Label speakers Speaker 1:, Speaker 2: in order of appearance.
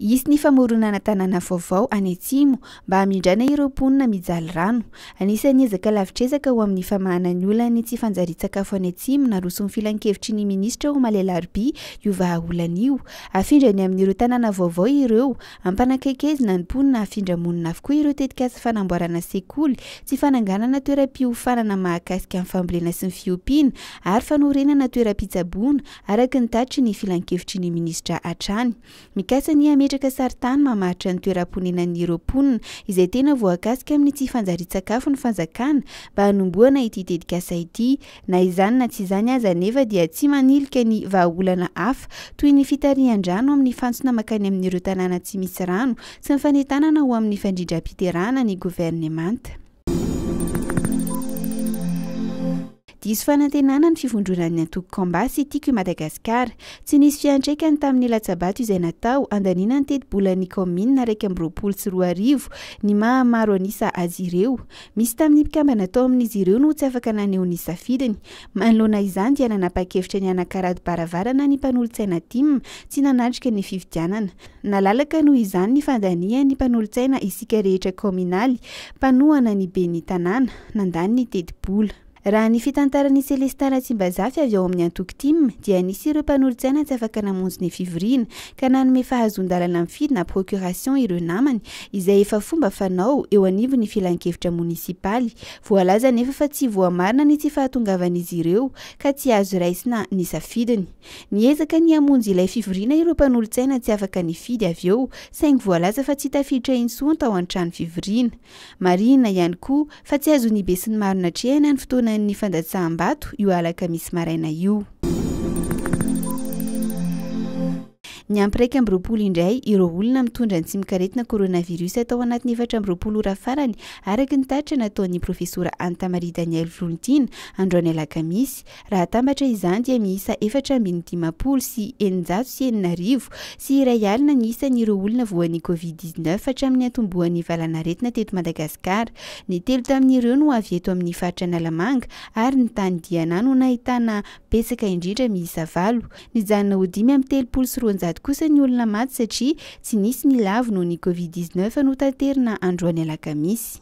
Speaker 1: Hisy ny famoronana tanàna vaovao any Atsimo mba hamindrana ireo mponina mijaly rano. Anisan'ny ezaka lavitrezaka ho amin'ny famahana ny olan'ny tsy fanjarian-tsakafo any Atsimo naroson'ny filankevitry ny minisitra omaly alarobia io vahaolana io. Hafindra any amin'ireo tanàna vaovao ireo Ampanakaikezina ny mponina hafindra monina avokoa ireo tetikasa fanamboarana sekoly, tsy fananganana toeram-piofanana mahakasika ny fambolena sy ny fiompiana ary fanorenana toeram-pitsaboana, araka ny tatitry ny filankevitry ny minisitra hatrany. Mikasa ny hametraka sarintany mamaritra ny toeram-ponenan'ireo mponina izay tena voakasika amin'ny tsy fanjarian-tsakafo ny fanjakana mba hanombohana ity tetikasa ity, Na izany na tsy izany aza anefa dia tsy manilika ny vahaolana hafa toy ny fitarihan-drano amin'ny fantsona mankany amin'ireo tanàna tsy misy rano sy ny fanentanana ho amin'ny fandrindram-piterahana ny governemanta. Diso fanantenana ny fivondronan'ny antoko Kamba sy Tiako i Madagasikara. Tsy nisy fiantraikany tamin'ny latsa-bato izay natao handaniana ny tetibolan'ny kaominina iraika amby roapolo sy roa arivo ny maha maro an'isa azy ireo. Misy tamin'ny mpikambana tao amin'izy ireo no tsy afaka naneho ny safidiny. Manoloana izany dia nanapa-kevitra ny hanakarado-baravarana ny mpanolotsaina Tim tsy nanatrika ny fifidianana. Nalalaka noho izany ny fandanian'ny mpanolotsaina Isika Rehetra Kaominaly mpanohana ny ben'ny tanàna, nandany ny tetibola. Raha ny fitantaran' i Celestin Ratsimbazafy avy ao amin'ny antoko tim dia nisy ireo mpanolotsaina tsy afaka namonjy ny fivoriana ka nanome fahazoan-dalana mifidy na procuration ireo namany izay efa fomba fanao eo anivon'ny filankevitra monisipaly. Voalaza anefa fa tsy voamarina ny tsy fahatongavan'izy ireo ka tsy azo raisina ny safidiny. Niezaka ny hamonjy ilay fivoriana ireo mpanolotsaina tsy afaka nifidy avy eo saingy voalaza fa tsy tafiditra intsony tao an-trano fivoriana. Marihina ihany koa fa tsy azon'ny besinimaro natrehana ny fotoanan'ny fandatsaham-bato io alakamisy maraina io. Niampy iraika amby roapolo indray ireo olona mitondra ny tsimok'aretina coronavirus tao anatin'ny efatra amby roapolo ora farany, araka ny tatitra nataon'ny Profesora Anta Marie Danielle Volontiana, androany alakamisy. Raha atambatra izany dia miisa efatra ambin'ny dimampolo sy eninjato sy enina arivo sy iray alina ny isan'ireo olona voan'ny Covid dix neuf hatramin'ny niantombohan'ny valanaretina teto Madagasikara. Ny telo tamin'ireo no avy eto amin'ny faritra Analamanga ary ny tany Diana no nahitana betsaka indrindra miisa valo. Nijanona ho dimy amby telopolo sy roanjato kosa ny olona maty satria tsy nisy ny lavo noho ny Covid dix neuf notaterina androany alakamisy.